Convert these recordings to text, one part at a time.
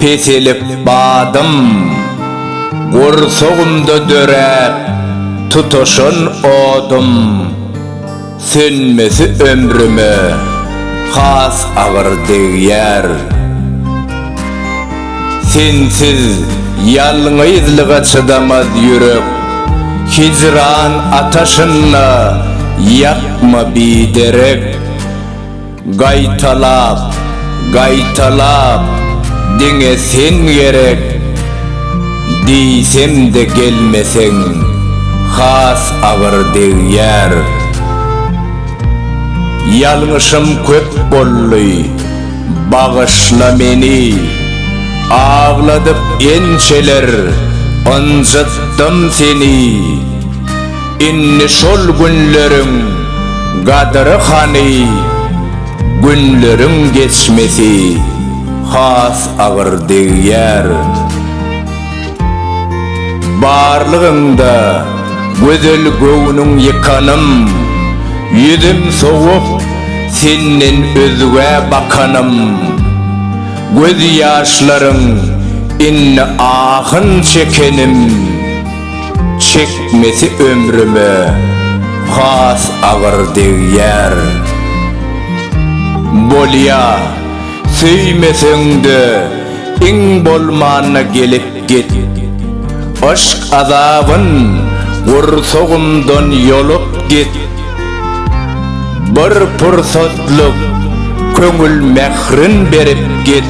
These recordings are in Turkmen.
Peselip badym, gursagymda döräp tutaşan odum, Sönmesi ömrüme has agyr degýär. Sensiz ýalňyzlyga çydamaz ýürek, Hijran ataşynda ýakma biderek. Gaýtalap, gaýtalap, diňe sen gerek, Diýsem-de gelmeseň, has agyr degýär. Ýalňyşym köp boldy, bagyşla meni, Agladyp ençeler ynjytdym seni. Indi şol günleriň gadyry hany, günleriň geçmesi has agyr degýär. Barlygyňda gözel göwnüň ýykanym, ýüzüm sowup senden özgä bakanym. Göz ýaşlaryň indi ahyn çekenim. Çekmesi ömrüme has agyr degýär. Bolýa, söýmeseň-de, iň bolmanda gelip git. Yşk azabyn gursagymdan ýolup git. Bir pursatlyk köňül mährin berip git.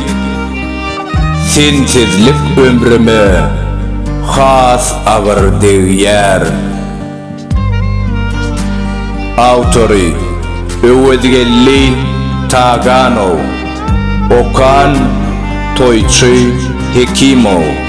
Sensizlik ömrüme has agyr degýär. Awtory, Öwezgeldi Taganow. Okan, Toýçy Hekimow.